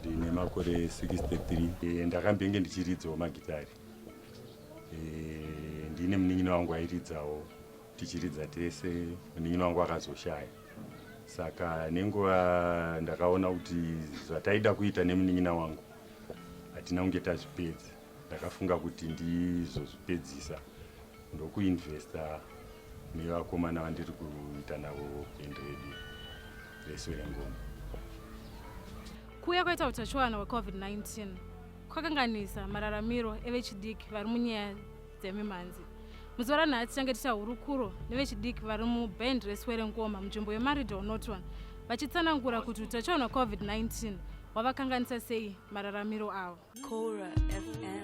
Ndine makore 63 ndakambenge ndichiridzawo magitari. Ndine munin'ina wangu airidzawo tichiridza tese, munin'ina wangu akazoshaya saka nenguva ndakaona kuti zvataida kuita nemunin'ina wangu hatina kunge tazvipedza. ndakafunga kuti ndizozvipedzisa ndokuinvesta nevakomana vandiri kuita navo band redu reserengoma kuuya kwaita utachiwana hwecovid-19 kwakanganisa mararamiro evechidiki vari munyaya dzemimhanzi muzuva ranhasi tichange tiita hurukuro nevechidiki vari muband reswerengoma munzvimbo yemarido norton vachitsanangura kuti utachiwana covid-19 hwavakanganisa sei mararamiro avo Kora FM.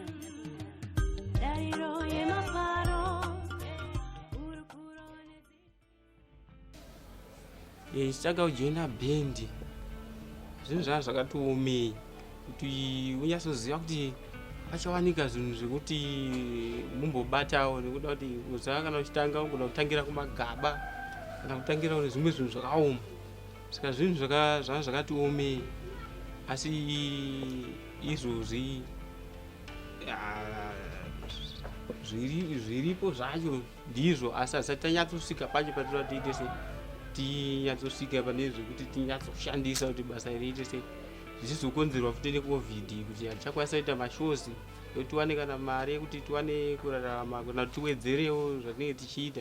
Chitsvaga kujoina bhendi zvinhu zvaa zvakatiomei kuti unyasoziva kuti pachawanika zvinhu zvekuti mumbobatawo nekuda kuti uzaa kana uchitanga ugoda kutangira kumagaba kana kutangira kune zvimwe zvinhu zvakaoma saka zvinhu zvanga zvakati omei asi izvozvi ah, zviripo zvacho ndizvo asi asati tanyatsosvika pacho patinoda tiite sei tinyatsosvika pane zvekuti tinyatsoshandisa kuti basa riite sei zvichizokonzerwa futi necovid kuti hatichakwanisa kuita mashows kuti tiwane kana mari yekuti tiwane kurarama kana kuti tiwedzerewo zvatinenge tichiita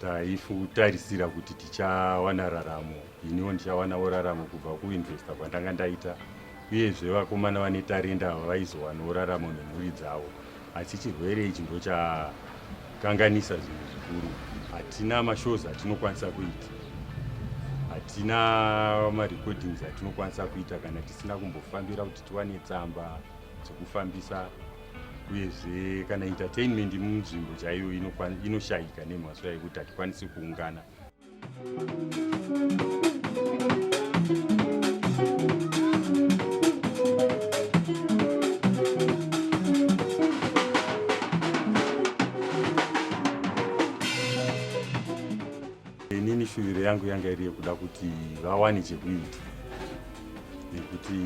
taifutarisira kuti tichawana raramo iniwo ndichawanawo raramo kubva kuinvesta kwandanga ndaita uyezve vakomana vane tarenda ava vaizowanawo raramo nemhuri dzavo asi chirwere ichi ndo chakanganisa zvinhu zvikuru hatina mashows atinokwanisa kuita hatina marecordings atinokwanisa kuita kana tisina kumbofambira kuti tiwane tsamba dzekufambisa uyezve kana entertainment munzvimbo chaiyo inoshayika nemhaswa yekuti hatikwanisi kuungana inini shuviro yangu yanga iri yekuda kuti vawane chekuita nekuti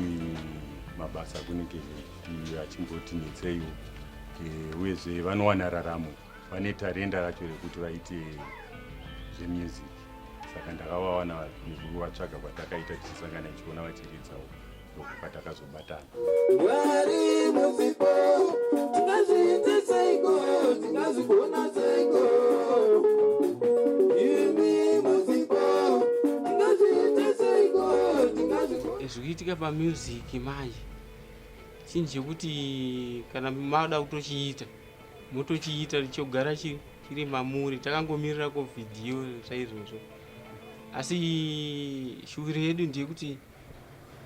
mabasa kunenge kuti achimboti netseiwo eh, uyezve vanowana raramo vane tarenda racho rekuti vaite zvemusic saka ndakavawana nekuvatsvaga kwatakaita tichisangana tichiona vachiridzawo ndokupatakazobata mwari muzipo tingazviite seiko tingazvigona seiko zvikuitika pamusic manje chinhu chekuti kana mada kutochiita motochiita chogara chiri mamuri takangomirira ko vhidhiyo saizvozvo asi shuviro yedu ndeyekuti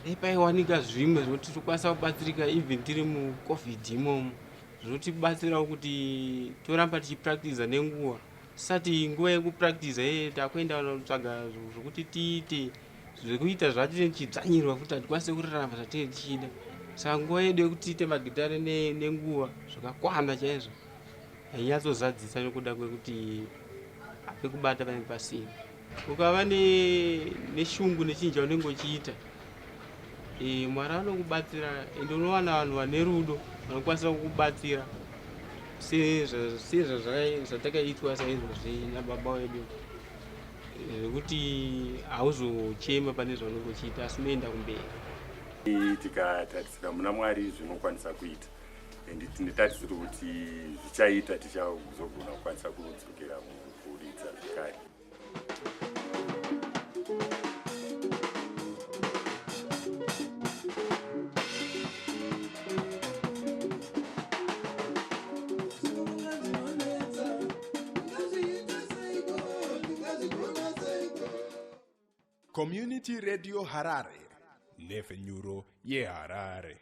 dai paiwanika zvimwe zvokuti tokwanisa kubatsirika even tiri mucovid imomo zvotibatsirawo kuti toramba tichipractiza nenguva Sati nguva yekupractice hee takuenda kutsvaga zvekuti tiite zvekuita zvatinenge tichidzvanyirwa futi hatikwanise kurarama zvatinenge tichida saka nguva yedu yekuti tiite magitare nenguva zvakakwana chaizvo hainyatsozadzisa nekuda kwekuti apekubata panenge pasina ukava neshungu nechinhu chaunenge uchiita eh, mwari anokubatsira ende unowana vanhu vane rudo vanokwanisa kukubatsira sezvatakaitwa saizvozvi nababa wedu zvekuti hauzochema pane zvaunenge uchiita asi unoenda kumberi tikatarisira muna mwari zvinokwanisa kuita and tine tarisiro kuti zvichaita tichazogona kukwanisa kudzokera mukuridza zvekare Community Radio Harare, Nefenyuro ye Harare.